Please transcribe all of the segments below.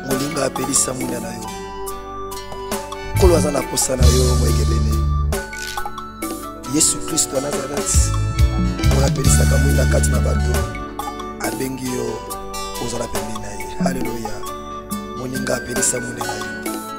molinga apelisa mwinda na yo nkolo aza na posa na yo moyegebene yesu kristo ya nazareti oyo apelisaka mwinda kati na bato abengi yo ozala pembeni na ye haleluya moninga apelisa mwinda na yo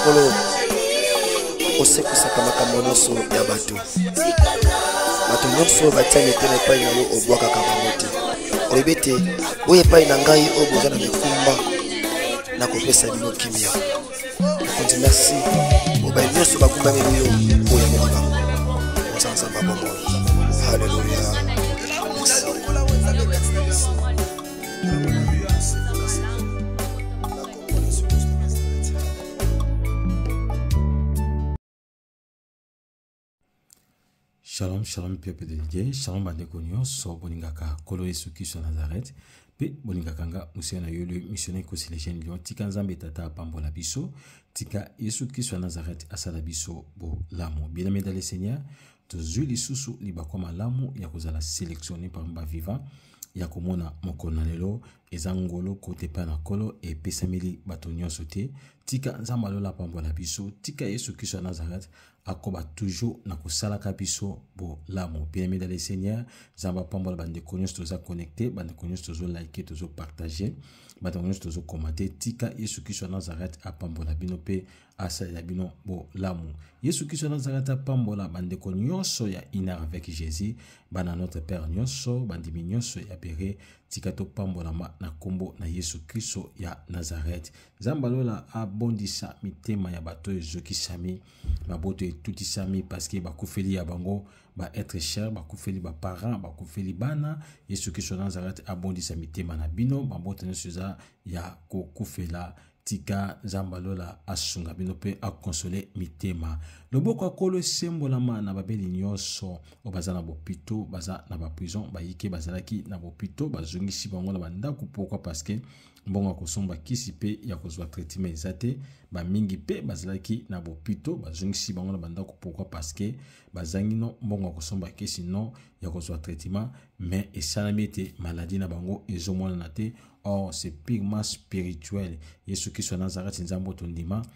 nkolo osekwisaka makambo nyonso ya bato bato nyonso oyo batia mitema epai na yo obwakaka bango te olobi ete oyo epai na ngai oyo boza na mikumba nakopesa bino kimia mokonzi merci mobali nyonso bakumbameli yo oyo mokaba ozanzamba bomoi haleluya shalom shalom peuple de dieu shalom bandeko nyonso bolingaka nkolo yesu kristo ya nazareth mpe bolingaka nga mosala na yo le missionnaire consilation lion tika nzambe tata apambola biso tika yesu kristo ya nazareth asala biso bolamu bien aimé dans le seigneur tozwi lisusu libaku malamu ya kozala selectionne parmi bavivant ya komona mokolo na lelo eza ngolo kote epai na nkolo epesameli bato nyonso te tika nzambe alola apambola biso tika yesu kristo ya nazareth akoba toujours na kosalaka biso bolamu bien-aimé dans le seigneur nzambe apambola bandeko nyonso toza connecte bandeko nyonso tozolike tozopartage bandeko nyonso tozokomate tika yesu kristo ya nazareth apambola bino mpe asalela bino bolamu yesu kristo anazalaka ata apambola bandeko nyonso ya inard avec jésus bana notre père nyonso bandimi nyonso ya bere tika topambolama na nkombo na yesu kristo ya nazareth nzambe alola abondisa mitema ya bato oyo ezokisami baboto etutisami parceke bakufeli ya bango baetre cher bakufeli baparent bakufeli bana yesu kristo nazareth abondisa mitema na bino mabota nyonso eza ya kokufela tika nzambe ya lola asunga bino mpe akonsole mitema loboko ya kolo esembolama na babeli nyonso oyo baza na bopito baza na baprison bayike bazalaki na bopito bazongisi bango na bandako pourkui parceke mbongo ya kosomba kisi mpe ya kozwa traitement eza te bamingi mpe bazalaki na bopito bazongisi bango na bandako pourkui parceke bazangi no mbongo ya kosomba kisi no ya kozwa traitement mais esalami ete maladi na bango ezomonana te or c'est purement spirituel yesu kristo ya nazareti nzambe oyo tondima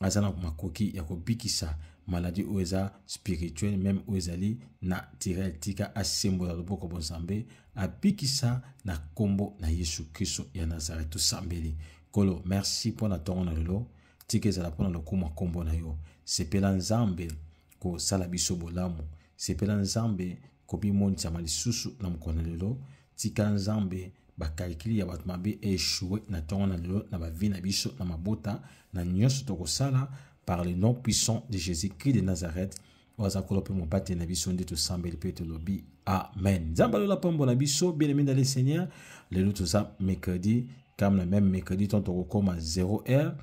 aza na makoki ya kobikisa maladi oyo eza spirituel meme oyo ezali naturel tika asembola loboko bonzambe abikisa na nkombo na yesu kristo ya nazareti tosambeli kolo merci mpo na ntongo na lelo tika ezala mpo na lokumu ya nkombo na yo sepela nzambe kosala biso bolamu sepela nzambe kobimonisama lisusu na mokolo na lelo Tika Nzambe ba calcul ya bato mabe echoue na tongo na lelo na ba vie na biso na mabota na nyonso tokosala par le nom puissant de Jésus-Christ de Nazareth oyo aza kolo mpe mobateli na biso nde tosambeli mpe tolobi amen nzambe alola pambola biso bien aimé le seigneur lelo toza mercredi kame na meme mercredi ntongo tokokoma 0 heure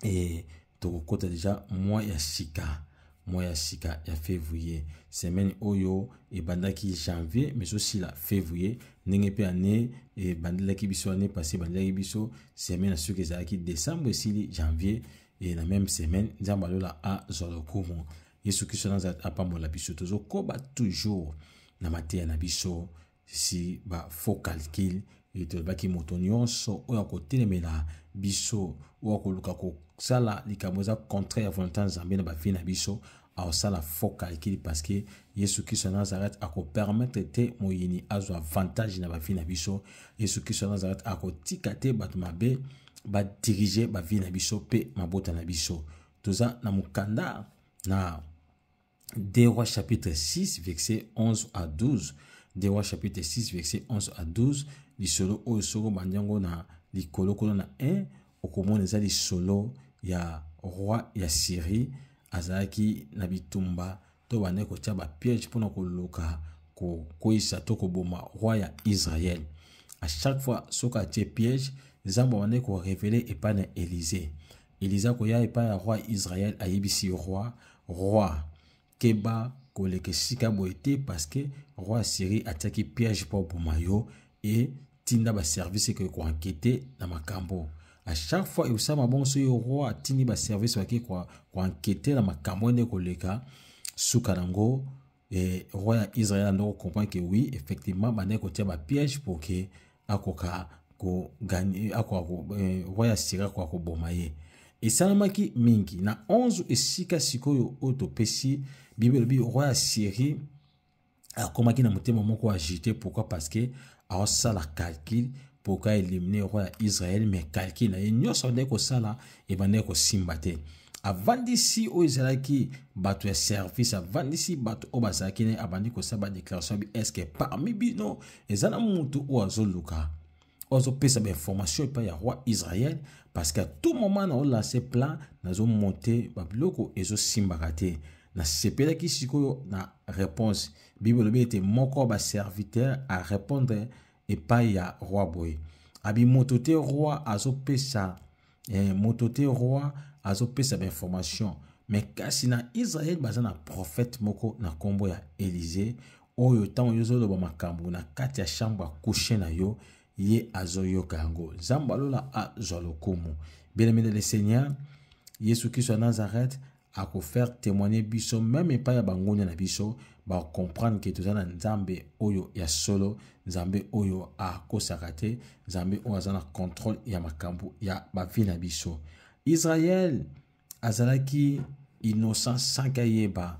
e, tokokota deja mwa ya sika mwa ya sika ya février semaine oyo ebandaki janvier mais osila février ndenge mpe ane ebandelaki biso ane passé ebandelaki biso semaine ya soki ezalaki décembre esili janvier e na meme semaine nzambe alola azwa lokumu yesu kristo nazala apambola biso tozokoba toujours na mateya na biso si ba faux calcul etolobaki moto nyonso oyo akotelemela biso oyo akoluka kosala likambo eza contraire ya volonté ya nzambe na bavi na biso aosala faux calcul parce que yesu kristo ya nazareth akopermettre te moyini azwa avantage na bavi na biso yesu kristo ya nazareth akotika te bato mabe badirige bavi na biso mpe mabota na biso toza na mokanda na 2 Rois chapitre 6 verset 11 à 12. 2 Rois chapitre 6 verset 11 à 12. Lisolo oyo soko bandi yango na likolo kuna na 1 okomona eza lisolo ya roi ya Syrie azalaki na bitumba to bande kotya bapiège mpona koluka kokweyisa to koboma roi ya Israël. À chaque fois soki atie piège, Nzambe abandaki korevele epai na Elize. Elize akoya epai ya roi Israel, ayebisi roi, roi, keba koleka esika boye te parceke roi ya Syrie atiaki piège mpo aboma yo e tinda baservice ekoki koankete na makambo à chaque fois eusama bongo soki roi atindi baservice bake koankete na makambo ende koleka suka nango Et roi ya Israël a donc compris que oui, effectivement, bande ko tia ba piège pour que akoka ko gagner akoka ko eh, roi ya Syrie akoka ko boma ye. Esalamaki mingi na 11 esika sikoyo oyo topesi Bible elobi roi ya Syrie akomaki na motema moko agite pourquoi parce que aosala calcul mpo ka elimine roi ya israele me calcul na ye nyonso abandaki kosala ebandaki kosimba te avandisi oyo ezalaki bato ya service avandisi bato oyo bazalaki naye abandi kosala badéclaration bi estce parmi bino eza na motu oyo azoluka oyo azopesa bainformation epai ya roi israel parce que tout moment naolanse plan nazomonte babiloko ezosimbaka te nasepelaki sikoyo na réponse bible elobi ete moko ba serviteur arepondre epai ya roi boye abi moto te roi azopesa eh, moto te roi azopesa bainformation me kasi na israele baza na prophète moko na nkombo ya elize oyo ntango yo ozoloba makambo na kati ya chambre ya kushe na yo ye azoyoka yango nzambe alola azwa lokumu bien aimé le seigneur yesu kristo ya nazareth ako faire témoigner biso meme epai ya bangonia na biso ba comprendre que toza na nzambe oyo ya solo nzambe oyo akosaka te nzambe oyo aza na contrôle ya makambo ya bavi na biso israel azalaki innocent sans kayeba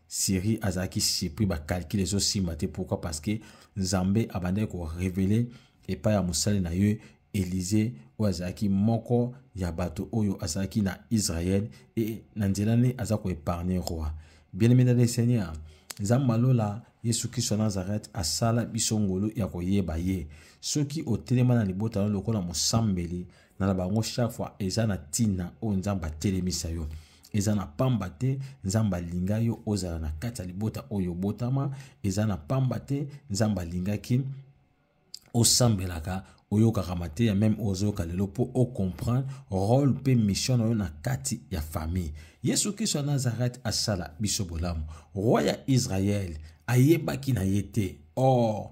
Siri azalaki surpris ba calcul ezo simba te pourquoi parce que Nzambe abandaki ko révéler epai ya mosali na ye Elize oyo azalaki moko ya bato oyo azalaki na Israël et na nzela ne aza ko épargner roi. Bien-aimé dans le Seigneur, Nzambe malola Yesu Kristo na Nazareth asala biso ngolu ya koyeba ye. Soki otelema na libota na lokola mosambeli na bango chaque fois eza na tina oyo nzambe atelemisa yo eza na pamba te nzambe alinga yo ozala na kati ya libota oyo obotama eza na pamba te nzambe alingaki osambelaka oyokaka mateya meme ozoyoka lelo mpo ocomprendre role mpe mission na yo na kati ya famille yesu kristo ya nazareth asala biso bolamu roi ya israele ayebaki na ye te or oh,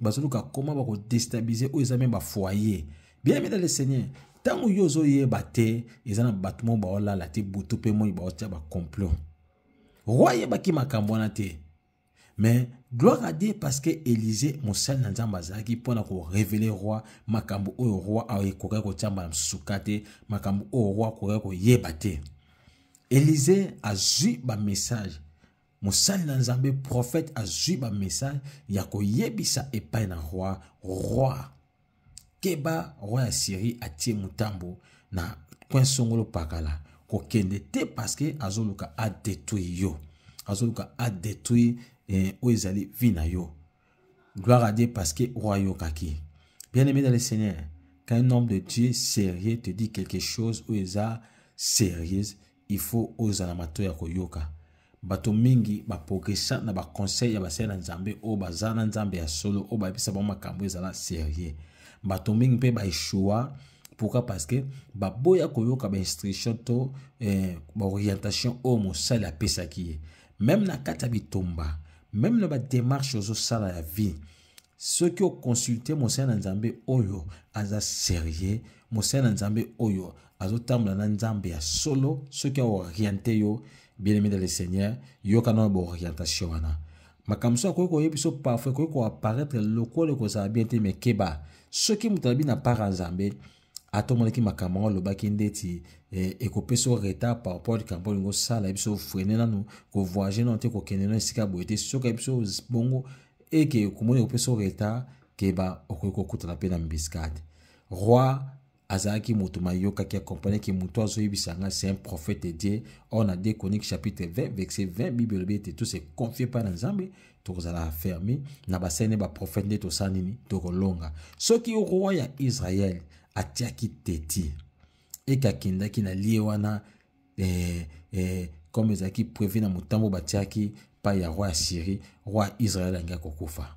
bazoluka koma bakodestabilize oyo eza me bafoyer bien aimé dans le seigneur ntango yo ozoyeba te eza na bato moko baolala te butu mpe moi baotya bacomplot roi ayebaki makambo wana te mais gloire à dieu parce que élysée mosali na nzambe azalaki mpo na korevele roi makambo oyo roi ekokaki kotyamba na mosuka te makambo oyo roi akokaki koyeba te élysée azwi bamessage mosali na nzambe prophète azwi bamessage ya koyebisa epai na roi roi keba roi ya syrie atie motambo na coin songolo pakala kokende te parceke azoluka adetruire yo azoluka adetruire eh, oyo ezali vi na yo gloire à dieu parceke roi ayokaki bien aimé dans le seigneur qu'un homme de dieu sérieux te dit quelque chose oyo eza sérieuse il faut ozala mato ya koyoka bato mingi baprogresa na baconseil ya basali na nzambe oyo baza na nzambe ya solo oyo bayebisa bango makambo ezala serieux bato mingi mpe baeshua pourquoi parce que baboya koyoka bainstruction to eh, baorientation oyo mosali apesaki ye meme na kati ya bitumba meme na bademarche ozosala ya vie soki oconsulte mosali na nzambe oyo aza serieux mosali na nzambe oyo azotambola na nzambe ya solo soki aoriente yo bien aimé de le seigneur yoka na baorientation wana makambo so akoki koyebi biso parfois ekoki koapparaître lokola ekozala bien te mais keba soki moto alobi na part ya nzambe ata omonaki makambo yango alobaki ndeti eh, ekopesa yo retard par rapport likambo olingi osala yebi so ofrene nanu kovoyage nano te kokende na esika boye te soki yebi so bongo eke okomoni ekopesa yo retard keba okoki kokutana mpe na mbiskade roi azalaki moto mayokaki akompanaki moto azoyebisa ngai c'est un prophète de dieu or na 2 chronique chapitre 20 verset 20 bible elobi ete tous se confie mpa na nzambe tokozala ferme na basene baprofete nde tosala nini tokolonga soki roi ya israele atiaki teti eke akendaki na lie wana eh, eh, comme ezalaki prevu na motambo batiaki epai ya roi ya syrie roi ya israele alingaki kokufa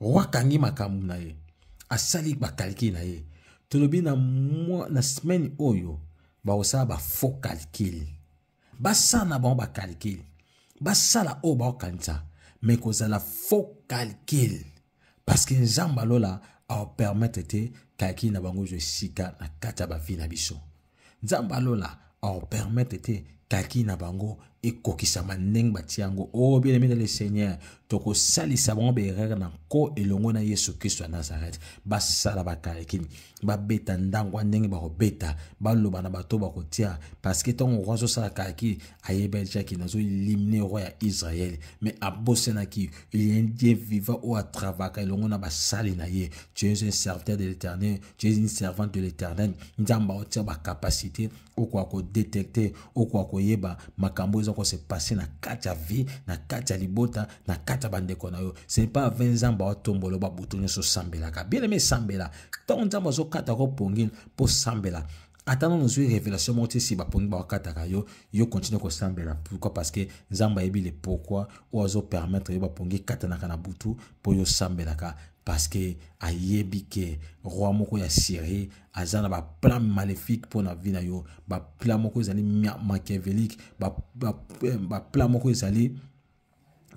roi kangi makambo na ye asali bakalkile na ye tolobi na, mwa, na semaine oyo bakosala bafaux calcule basala na bango bacalcule basala oyo bakokanisa me kozala faux calcule parce que nzambe alola aopermettre te calcule na bango ezwa esika na kati ya bavi na biso nzambe ya lola aopermetre te kaki na bango ekokisama ndenge batia yango o oh, bien-aime le seigneur tokosalisa bango baerreur na nko elongo na yesu kristo ya nazareth basala bakalakini babeta ndango ya ndenge bakobeta baloba na bato bakotia parceke ntango roi azosala kalaki ayebelaki nazolimne roi ya israele mais abosenaki lien die viva oyo atravaka elongo na basali na ye tu es un serviteur de l'éternel tu es une servante de l'éternel nzambe aotia bacapacité okoka kodetecte okoka koyeba makambo oyo eza kose passe na kati ya vie na kati ya libota na kati ya bandeko na yo ce n'est pas ave nzambe aotombolo babutu nyonso osambelaka bien aime esambela ntango nzambe azokata ko pongi mpo osambela ata nanu ozwi révélation moko ti si bapongi bakataka yo yo continue kosambela pourquoi parce que nzambe ayebi le pourquoi oyo azopermettre yo bapongi ekatanaka na butu mpo yo osambelaka parce que ayebi ke roi moko ya syrie aza na baplan maléfique mpo na vie na yo baplan moko ezali machiavelique baplan ba, ba, ba, moko ezali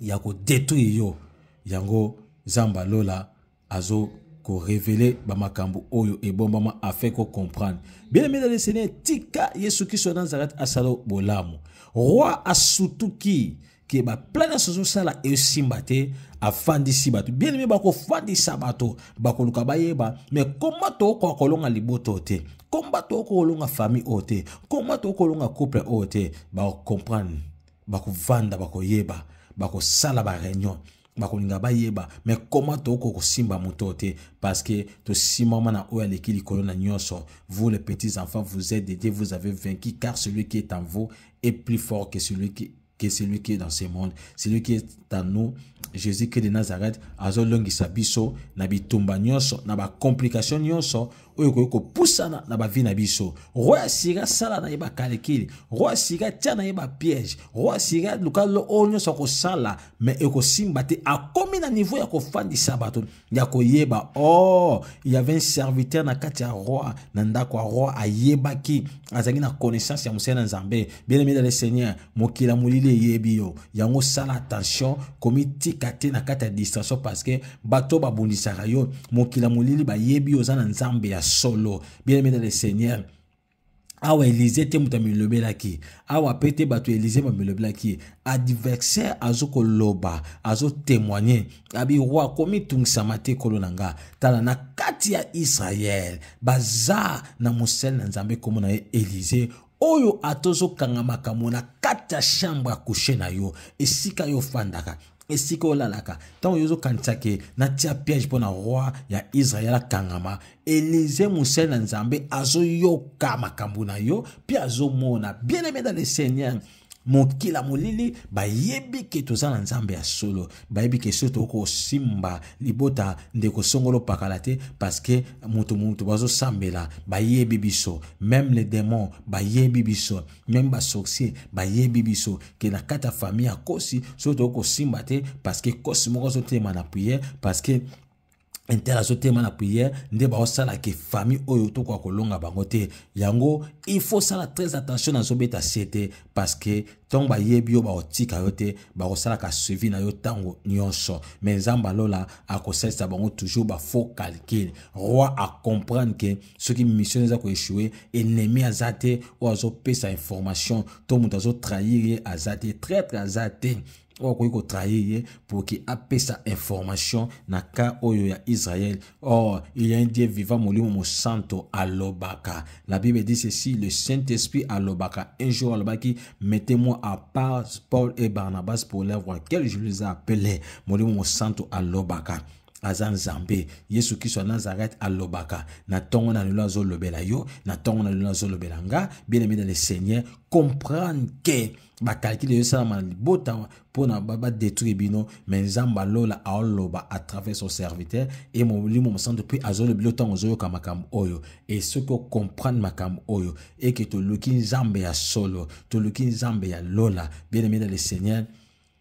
ya ko détruire yo yango zamba lola azo ko révéler ba makambo oyo ebombama afin ko comprendre bien aimé dans le seigneur tika yesu kristo na nazareth asala bolamu roi asutuki ke baplan nyonso ozosala esimba te afandisi bato bien aimé bakofandisa bato bakoluka bayeba me koma tokokoka kolonga libota oyo te koma tokokoka kolonga famille oyo te koma tokokoka kolonga couple oyo te bakocomprendre bakovanda bakoyeba bakosala bareunion bakolinga bayeba me koma tokoki kosimba moto te parce que tosimama na oyo aleki likolo na nyonso vous les petits enfants vous êtes dédiés vous avez vaincu car celui qui est en vous est plus fort que celui qui que celui qui est dans ce monde celui qui est en nous jésus christ de nazareth azolongisa biso na bitumba nyonso na bacomplication nyonso oyo ekoki kopusana na bavi na biso roi asira sala na ye bakalikili roi asira tya na ye bapiège roi asira luka lo oyo nyonso akosala me ekosimba te akomi na niveau ya kofandisa bato ya koyeba o oh, yave un serviteur na kati ya roi na ndako ya roi ayebaki azalaki na connaissance ya mosali na nzambe bien aimé le seigneur mokili ya molili eyebi yo yango sala attention komitika te na kati ya distraction parce que bato babundisaka yo mokili ya molili bayebi yo oza na nzambe ya solo bien aimé dans le seigneur awa elize te moto amilobelaki awa mpe te bato ya elize bamilobelaki adversaire azokoloba azotemoigne abi roi akomitungisama te kolo na nga tala na kati ya israele baza na mosele na nzambe nkombo na ye elize oyo ata ozokanga makambo na kati ya chambre ya kushe na yo esika yo ofandaka esika olalaka ntango yo ozokanisa ke natia piège mpo na roi ya israel akangama elize mosali na nzambe azoyoka makambo na yo mpe azomona bien aime dans le seigneur mokila molili bayebi ke toza na nzambe ya solo bayebi ke so tokoki kosimba libota ndeko songolo pakala te parceke moto moto bazosambela bayebi biso meme le demon bayebi biso meme basorcier bayebi biso ke na kati ya famille ya kosi so tokoki kosimba te parceke kosi moko azotelema na priere parceke inter azotema na prière nde baosala ke famille oyo tokoka kolonga bango te yango il faut sala très attention nazobeta sie te parce que ntango bayebi yo bakotika yo te bakosalaka suivi na yo ntango nyonso me nzambe alola akosalisa bango toujours bafaux calcul roi acomprendre ke soki mission eza koechoue ennemi aza te oyo azopesa information to moto azotrahir ye aza te traitre aza te oyo akoki kotrahir ye pour ke apesa information na cas oyo ya israel or il y a un dieu vivant molimo mosanto alobaka la bible dit ceci le saint-esprit alobaka un jour alobaki mettez-moi à part paul et barnabas pour leur voir quel je les ai appelé molimo mosanto alobaka aza nzambe yesu kristo ya nazareth alobaka na ntongo na lelo azolobela yo na ntongo na lelo azolobela nga bien aimé dans le seigneur comprendre que bakalkile ezosalama na libota mpo na badetruire bino me nzambe alola aoloba à travers son serviteur e molimo mosantu mpe azoloba bino ntango ozoyoka makambo oyo e soki okomprendre makambo oyo eke toluki nzambe ya solo toluki nzambe ya lola bien aime na le seigneur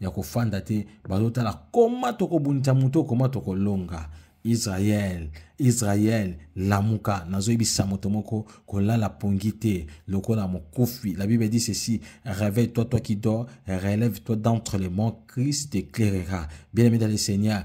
ya kofanda te bazotala koma tokobundisa moto koma tokolonga israel israel lamuka nazoyebisa moto moko kolala pongi te lokola mokufi la bible dit ceci réveille toi toi qui dors relève toi d'entre les morts christ t'éclairera bien aimé dans le seigneur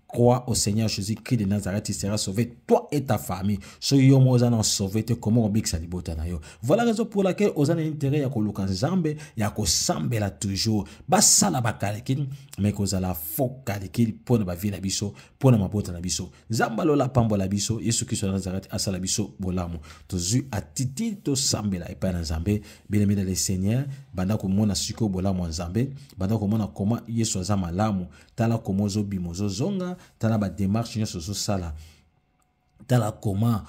crois au Seigneur Jésus-Christ de Nazareth, il sera sauvé, toi et ta famille. Ce yom ozana sauvé, te comment obik sa libota na yo. Voilà raison pour laquelle ozana intérêt ya koluka nzambe, ya ko sambela toujours. Ba sala ba kalikil, mais ko zala faux kalikil pour na ba vie na biso, pour na mabota na biso. Zamba lola pambo la biso, Yesu Christ de Nazareth asala biso bolamu. Tozu atiti to sambela et pas na nzambe, bien aimé le Seigneur, banda ko mona siko bolamu nzambe, banda ko mona comment Yesu azama lamu, tala koma ozobima ozozonga tala bademarche nyonso ozosala tala koma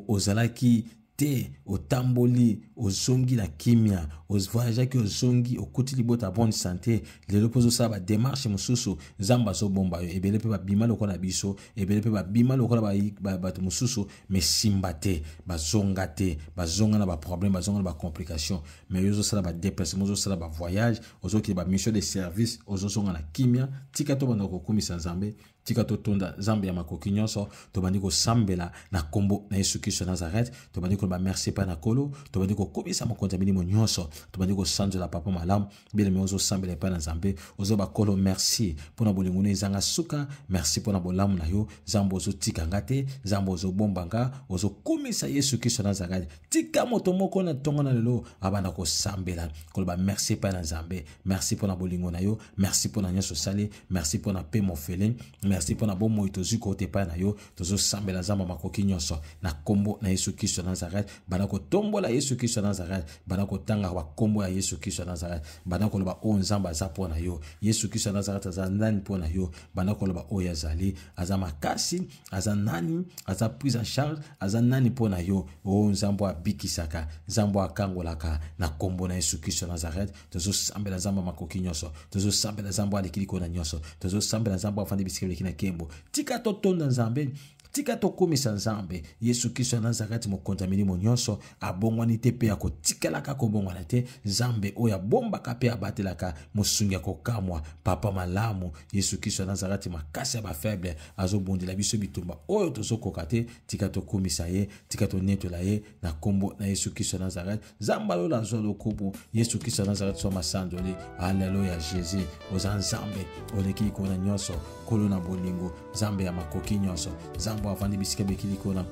ozalaki te otamboli ozongi na kimya ovoyageaki ozongi okuti libota ya bonne sante lelo mpe ozosala bademarche mosusu nzambe azobomba yo ebele mpe babima lokola na biso ebele mpe babima lokola bato mosusu mesimba te bazonga te bazonga na baproblème bazonga na bacomplication mai yo ozosala badeplacement ozosala bavoyage ozokende ba mission de service ozozonga na kimia tika tobanda kokumisa nzambe tika totonda nzambe ya makoki nyonso tobandi kosambela na nkombo na yesu kristo ya nazareth tobandi koloba merci epai na kolo tobandi kokumisa mokonzi ya milimo nyonso tobandi kosanzola papa malamu bileme ozosambela epai na nzambe ozoba kolo merci mpo na bolingo no ezanga suka merci mpo na bolamu na yo nzambe ozotika nga te nzambe ozobomba nga ozokumisa yesu kristo ya nazareth tika moto moko na ntongo na lelo abanda kosambela koloba merci epai na nzambe merci mpo na bolingo na yo merci mpo na nyonso osali merci mpo na mpe mofele merci mpo na bomoi tozwi kouta epai na yo tozosambela nzambe makoki nyonso na nkombo na yesu kristo ya nazareth banda kotombola yesu kristo ya nazareth banda kotanga bankombo ya yesu kristo ya nazareth banda koloba oyo nzambe aza mpo na yo yesu kristo ya nazareth aza nani mpo na yo banda koloba oyo azali aza makasi aza nani aza prise en charge aza nani mpo na yo o oh, nzambo abikisaka nzambo akangolaka na nkombo na yesu kristo nazareth tozosambela nzambo ya makoki nyonso tozosambela nzambo aleki likolo na nyonso tozosambela nzambo afandi bisika bileki na nkembo tika totonda nzambe tika tokumisa nzambe yesu kristo ya nazareti mokonzi ya milimo nyonso abongwani te mpe akotikalaka kobongwana te nzambe oyo abombaka mpe abatelaka mosungi ya kokamwa papa malamu yesu kristo ya nazarati makasi ya bafaible azobundela biso bitumba oyo tozokoka te tika tokumisa ye tika tonetola ye na nkombo na yesu kristo ya nazareti nzambe alola azwa lokumu yesu kristo ya nazareti zwa masandoli aleluya jesus oza nzambe oleki likolo na nyonso kolo na bolingo nzambe ya makoki nyonso nzambe avandi bisika bikiliko na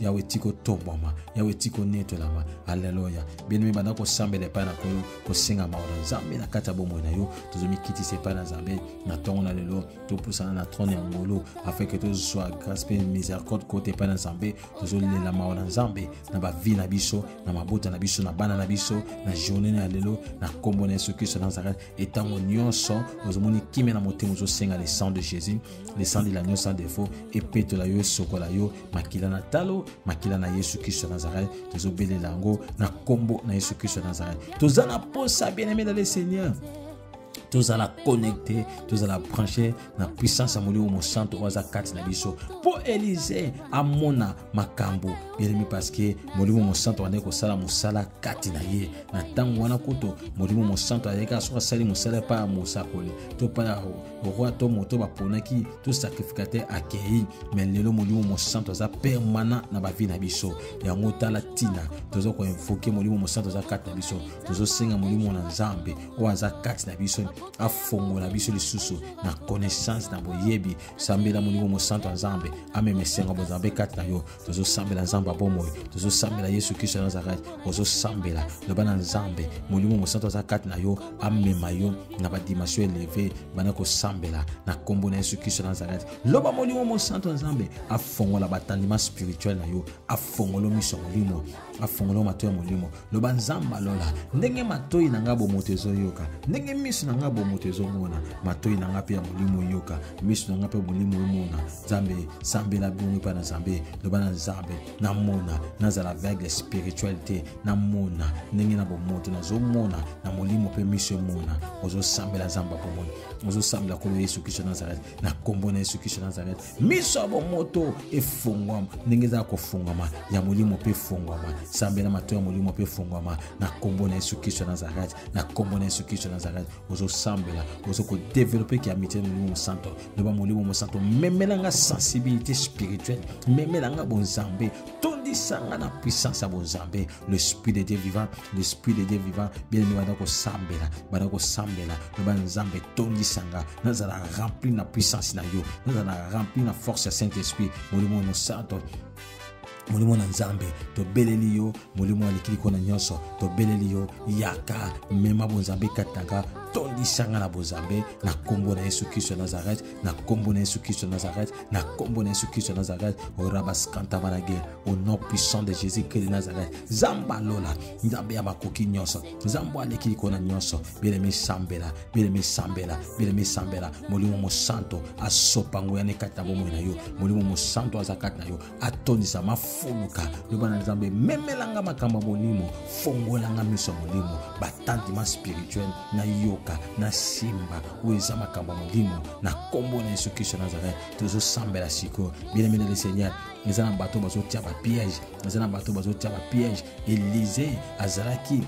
yawe ti kotombwama yawe ti konetolama aleluya bino mibanda kosambela epai na nkolo kosenga mawa na nzambe na kati ya bomoi na yo tozomikitisa epai na nzambe na ntongo na lelo topusana na trone ya ngolu afeke tozwa grâce mpe miséricorde kote epai na nzambe tozolela mawa na nzambe na bavi na biso na mabota na biso na bana na biso na journée na ya lelo na nkombo na yesu kristo na nazareth et ntango nyonso ozomoni kimia na motema ozosenga le sang de jésus le sang de l'agneau sans défaut epetola yo esokola yo makila na talo makila na yesu kristo ya nazareth tozobelela yango na nkombo na yesu kristo ya nazareth toza na mposa bien aimé na le seigneur tozala connecte tozala branche na puissance ya molimo mosantu oyo aza kati na biso mpo elize amona makambo yelemi parceke molimo mosantu andaki kosala mosala kati na ye na ntango wana kutu molimo mosantu ayaki kaka soki asali mosala epai ya mosakoli to epai ya roi to moto baponaki to sacrificateur akei me lelo molimo mosantu aza permanent na bavi na biso yango tala ntina toza koinvoke molimo mosantu aza kati na biso tozosenga molimo na nzambe oyo aza kati na biso afongola biso lisusu na connaissance na boyebi sambela molimo mosantu ya nzambe amema esengo ya bonzambe kati na yo tozosambela nzambe ya bomoi tozosambela yesu kristo ya nazarete ozosambela loba na nzambe molimo mosantu aza kati na yo amema yo na badimension eleve banda kosambela na nkombo na yesu kristo ya nazarete loba molimo mosantu ya nzambe afongola batandima spirituel na yo afongolo miso ya molimo afongola matoi ya molimo loba nzambe alola ndenge matoi na ngai bomoto ezoyoka ndenge miso na ngai bomoto ezomona matoi na ngai mpe ya molimo oyoka miso na ngai mpe molimo omona nzambe sambela bongo epai na nzambe loba na nzambe namona nazala aveugle spirituel te namona ndenge na bomoto nazomona na molimo mpe miso emona ozosambela nzambe ya bomoi ozosambela nkolo yesu kristo nazareth na nkombo na yesu kristo nazareth miso ya bomoto efungwama ndenge ezala kofungwama ya molimo mpe efungwama sambela mato ya molimo mpe efungwama na nkombo na yesu kristo ya nazarete na nkombo na yesu kristo ya nazarete ozosambela ozo kodevelope ki amitié na molimo mosanto loba molimo mosanto memela nga sensibilité spirituelle memela nga bonzambe tondisa nga na puissance ya bonzambe l'esprit de dieu vivant l'esprit de dieu vivant bien aimé banda kosambela banda kosambela loba nzambe tondisa nga nazala rempli na puissance na yo nazala rempli na force ya saint esprit molimo mosanto molimo na nzambe tobeleli yo molimo ya likiliko na nyonso tobeleli yo yaka mema bonzambe kati na nga tondisa nga na bozambe na nkombo na yesu kristo ya nazareth na nkombo na yesu kristo ya nazareth na nkombo na yesu kristo ya nazareth orabaskanta manage au nom puissant de jésus christ de nazareth nzambe alola nzambe ya makoki nyonso nzambe aleki likolo na nyonso belemi sambela belemi sambela belemi sambela molimo mosanto asopa nguya ne kati na bomoi na yo molimo mosanto aza kati na yo atondisa mafuluka loba na nzambe memelanga makambo ya molimo fongolanga miso ya molimo batantima spirituel nayoka nasimba oyo eza makambo ya molimo na nkombo na yesu kristo nazareth tozosambela sikoyo bien aimé le seigneur eza na bato bazotia bapiège eza na bato bazotia bapiège elize azalaki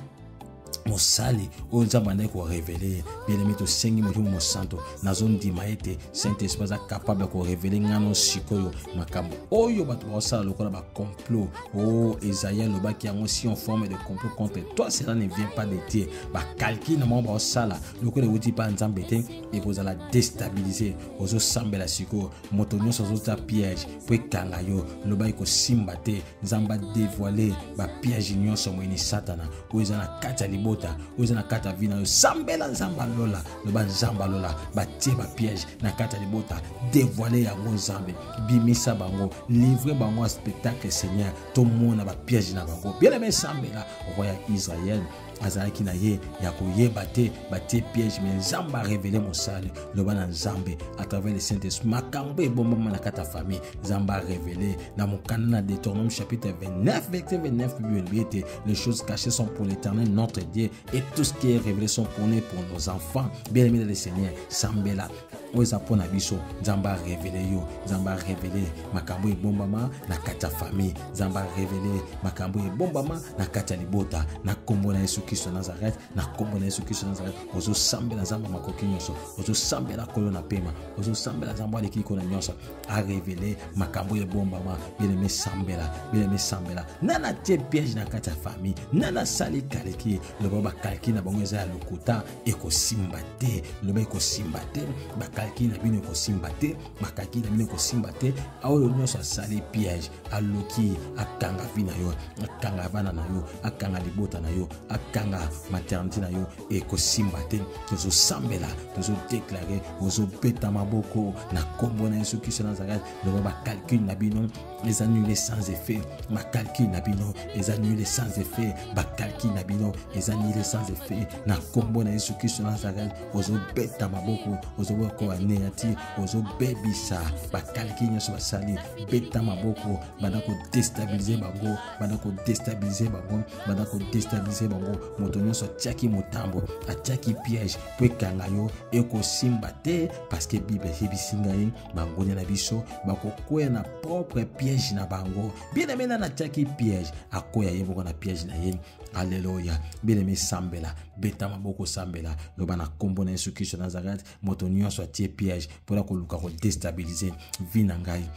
mosali oyo nzambe andaki korevele ye bielemi tosengi molimo mosanto nazondima ete saint esprit aza kapable ya korevele ngano sikoyo makambo oyo bato bakosala lokola bacomplot o oh, esaia alobaki yango si on forme de complot contre toi cela ne vient pas de dieu bakalkile na bango bakosala lokola euti mpa nzambe te ekozala destabilise ozosambela sikoyo moto nyonso azotya piège mpo ekanga yo loba ekosimba te nzambe adevoile bapiège nyonso moyini satana oyo eza na kati ya libota oyo eza na kati ya vi na yo sambela nzambe alola loba nzambe alola batie bapiège na kati ya libota devoile yango nzambe bimisa bango livre bango ya spectacle seigneur tomona bapiège na bango bien aime sambela roi ya israel azalaki na ye ya koyeba te batie piège me nzambe arevele mosali loba na nzambe à travers le saint esprit makambo ebombama na kati ya famille nzambe arevele na mokanda na deuteronome chapitre 29 verset 29 bible elobi ete les choses cachées sont pour l'éternel notre dieu et tout ce qui est révélé sont pour nous pour nos enfants bien aimé dans le seigneur sambela oyo eza mpo na biso nzambe arevele yo nzambe arevele makambo ebombama na kati ya famille nzambe arevele makambo ebombama na kati ya libota na nkombo na yesu kristo nazareth na nkombo na yesu kristo nazareth ozosambela nzambe makoki nyonso ozosambela kolo na pema ozosambela nzambe aleki likolo na nyonso arevele makambo ebombama bileme sambela bileme sambela nana tie piège na kati ya famille nana asali kaliki loba bakaliki na bango eza ya lokuta ekosimba te loba ekosimba te bakalki na bino ekosimba te bakalki na bino ekosimba te oyo nyonso asali piège aloki akanga vi na yo akanga bana na yo akanga libota na yo akanga maternité na yo ekosimba te tozosambela tozodeklare ozobeta maboko na nkombo na yesu kristo nazareth loba bakalkile na bino les annulés sans effet ma calcul na bino les annulés sans effet ba calcul na bino les annulés sans effet na kombo na Yesu Kristo Nazareth ozo beta maboko ozo boko anéantir ozo bebisa ba calcul nyoso basali beta maboko banda ko déstabiliser bango banda ko déstabiliser bango banda ko déstabiliser bango moto nyoso atiaki motambo atiaki piège po ekanga yo ekosimba te parce que Bible eyebisi ngai bangunia na biso bakokwea na propre piège na bango bien-aime nani atiaki piège akwea ye moko na piège na ye aleluya bien-aime sambela beta maboko sambela loba na nkombo na yesu kristo nazareth moto nyonso atie piège mpona koluka kodestabilize vi na ngai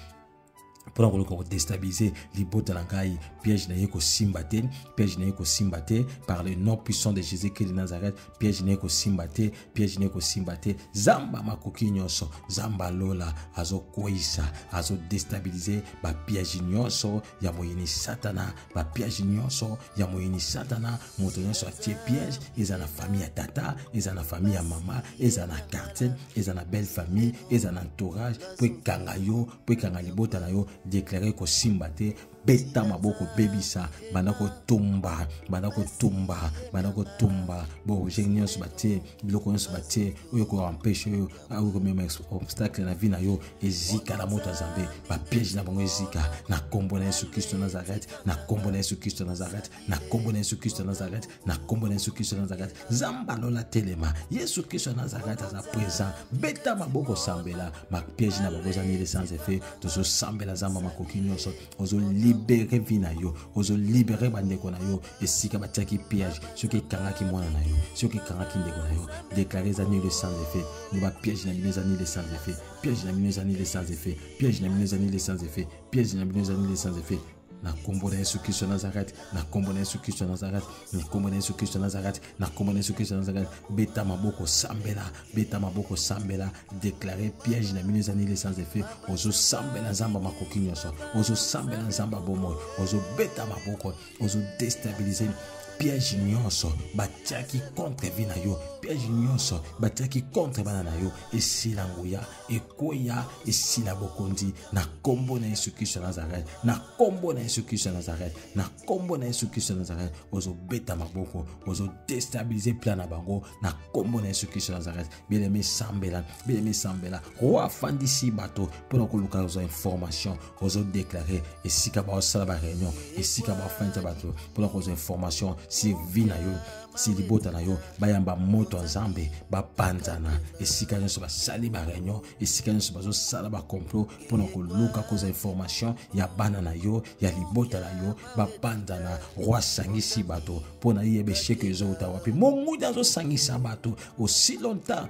mpo na koluka kodestabilize libota na ngai piège na ye kosimba te piège na ye kosimba te par le nom puissant de jésus christ de nazareth piège na ye kosimba te piège na ye kosimba te zamba makoki nyonso zamba lola azokweyisa azodestabilize bapiège nyonso ya moyini satana bapiège nyonso ya moyini satana moto nyonso atie piège eza na famille ya tata eza na famille ya mama eza na quartier eza na belle famille eza na entourage mpo ekanga yo mpo ekanga libota na yo deklare kosimba te beta maboko bebisa banda kotumba banda kotumba banda kotumba boobjet nyonso batie biloko nyonso batie oyo ekoempeshe oyo oyo komema obstacle na vie na yo ezika na moto ya zambe bapiège na bango ezika na nkombo na yesu kristo nazareth na nkombo na yesu kristo nazareth na nkombo na yesu kristo ya nazareth na nkombo na yesu kristo ya nazareth zamba lola telema yesu kristo ya nazareth aza présent beta maboko sambela mapiège na bango eza nile sans effet tozosambela zamba makoki nyonso ozolibere vi na yo ozolibere bandeko na yo esika batiaki piège soki ekangaki mwana na yo soki ekangaki ndeko na yo deklare eza nile sans effet loba piège na bino eza nile sans effet piège na bino eza nile sans effet piège na bino eza nile sans effet piège na bino eza nile sans effet na nkombo na yesu kristo nazareti na nkombo na yesu kristo nazareti na nkombo na yesu kristo nazareti na nkombo na yesu kristo nazareti beta maboko sambela beta maboko sambela deklare piège na bino eza nile sans effet ozosambela nzambe makoki nyonso ozosambela nzambe bomoi ozobeta maboko ozodestabilize piège nyonso batiaki contre vie na yo piège nyonso batiaki contre bana na yo esila nguya ekoya esila bokonzi na kombo na yesu kristo ya nazareth na kombo na yesu kristo ya nazareth na kombo na yesu kristo ya nazareth ozobeta maboko ozodestabilize plan na bango na kombo na yesu kristo ya nazareth bieleme esambela bieleme esambela roi afandisi bato mpo na koluka kozwa information ozo déclarer esika baosala ba réunion esika bafandisa bato mpona kozwa information si vie na yo si libota na yo bayamba moto ya nzambe bapanzana esika nyonso basali ba réunion esika nyonso bazosala ba complot mpona koluka kozwa information ya bana na yo ya libota na yo bapanzana roi asangisi bato mpona yeba esheke ezowuta wapi monguda azosangisa bato aussi longtemps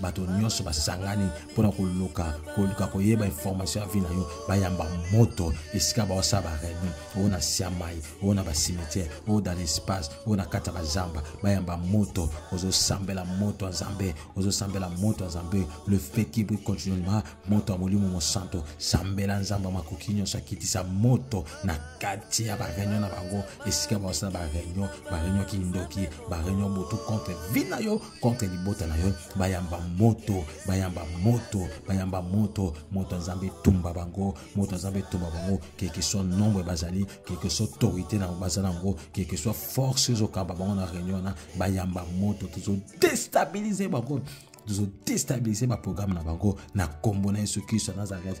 bato nyonso basangani mpo na koluka koluka koyeba information ya vi na yo bayamba moto esika baosala bareunion oyo na siamai oyo na basimetiere oyo dans l'espace oyo na kati ya bazamba bayamba moto ozosambela moto ya nzambe ozosambela moto ya nzambe le fait qui brille continuellement moto ya molimo mosanto sambela nzambe ya makoki nyonso akitisa moto na kati ya bareunion na bango esika baosala bareunion bareunion kindoki bareunion botu contre vi na yo contre libota na yo bayamba moto bayamba moto bayamba moto moto ya nzambe etumba bango moto ya nzambe etumba bango quelque soit nombre bazali quelque soit autorité na baza na yango quelque soit force ezokamba bango na réunion wana bayamba moto tozodestabilize bango tozodestabilize baprograme na bango na nkombo na yesu kristo ya nazareth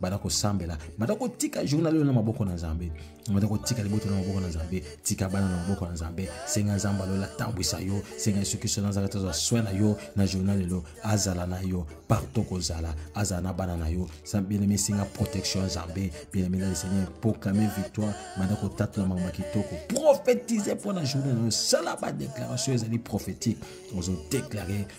banda kosambela banda kotika journal oyo na maboko na nzambe banda kotika libota na maboko na nzambe tika bana na maboko na nzambe senga nzambe alola atambwisa yo senga yesu kristo na azalaka tozwa soin na yo na journal lelo azala na yo partout kozala azala na bana na yo bieneme senga protection ya nzambe bieneme na seigneur proclame victoire banda kotatola makambo ya kitoko prophétise mpo na journée na yo sala badéclaration ezali prophétique ozodeklare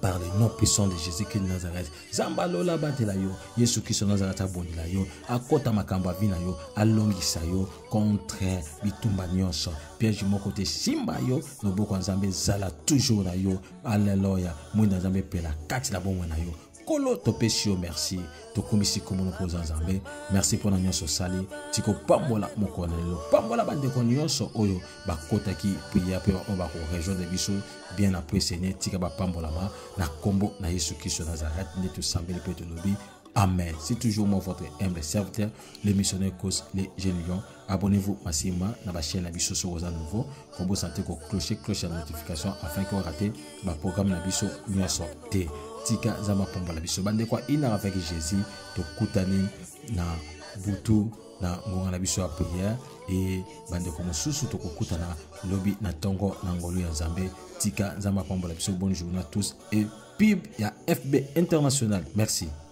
par le nom puissant de Jésus-Christ de Nazareth. Zamba lola batela yo, Yesu Kristo Nazareth abondela yo, akota makambo avina yo, alongisa yo contre bitumba nyonso. Piège moko te simba yo, loboko nzambe zala toujours na yo. Alléluia. Mwinda nzambe pela kati na bomwe na yo. nkolo topesi yo merci tokumisi nkombo moko oza nzambe merci mpo na nyonso osali tikopambola mokolo na lelo pambola bandeko nyonso oyo bakotaki priere mpe baoyo bakorejoindre biso bien après seigneur tika bapambolama na nkombo na yesu kristo nazareth nde tosambeli mpe tolobi amen c'est toujours moi votre humble serviteur le missionnaire cause les jeunes lions Abonnez-vous massivement na ba chaîne na biso soki oza nouveau, kombo santé ko clocher cloche ya notification afin que rater ba programme na biso nyonso te. Tika zama pomba na biso bande kwa ina avec Jésus tokutani na butu na ngonga na biso ya prière et bande ko mosusu tokokutana lobi na tongo na ngolu ya Nzambe. Tika zama pomba na biso bonne journée à tous et pib ya FB international. Merci.